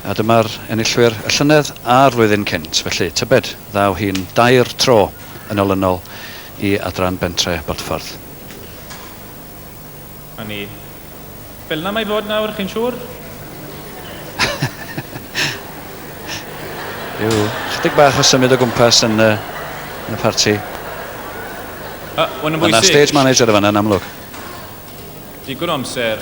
A dyma'r enillwyr y llynedd a'r flwyddyn cynt, felly tybed, ddaw hi'n dair tro yn olynol i Adran Bentre Bodffordd. A ni. Fel 'na mae fod nawr, chi'n siŵr? Rhyw 'chydig bach o symud o gwmpas yn y, yn y parti. A, hwn yn bwysig. Mae 'na stage manager yn fan'na, yn amlwg. Digon o amser.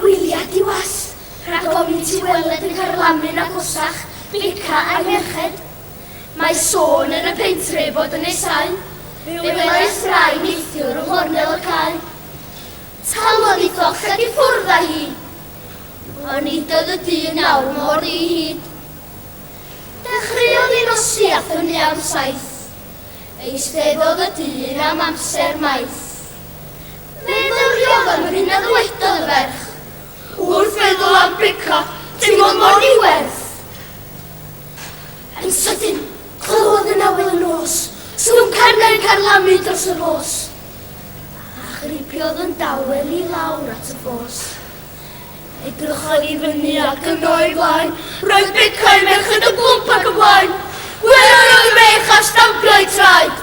Gwyliau diwas, rhag ofn ti weled yn carlamu'n agosach, beca a'i merched. Mae sôn yn y pentre ei fod yn nesáu, fe welais rai neithiwr yng nghornel y cae. Talodd i ddochad i ffwrdd â hi, ond nid oedd y dyn awr mor ddi hid. Dechreuon ni nosi a thynnu am saith, eisteddodd y dyn am amser maith. Meddyliodd am hyn a ddywedodd y ferch, Wrth feddwl am Brica, teimlodd mor ddiwerth. Yn sydyn, clywodd yn awel y nos, sŵn carnau'n carlamu dros y rhos, a chripiodd yn dawel i lawr at y ffos. Edrychodd i fyny ac yno i flaen, roedd Brica a'i merched yn blwmp ac yn blaen. Gwelodd y ferch a stampiai traed.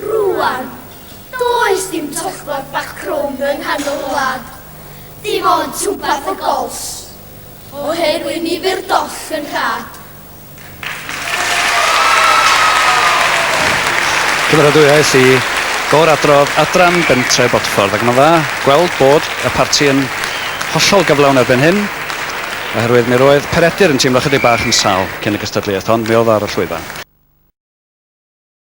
Rŵan, does dim tollborth bach crwn yng nghanol y wlad, dim ond twmpath y gols, oherwydd ni fu'r doll yn rhad. Cymeradwyaeth i gor-adrodd Adran Bentre Bodffordd ac mae'n dda gweld bod y parti yn hollol gyflawn erbyn hyn oherwydd mi roedd Peredur yn teimlo chydig bach yn sal cyn y gystadleuaeth ond mi oedd o ar y llwyfan.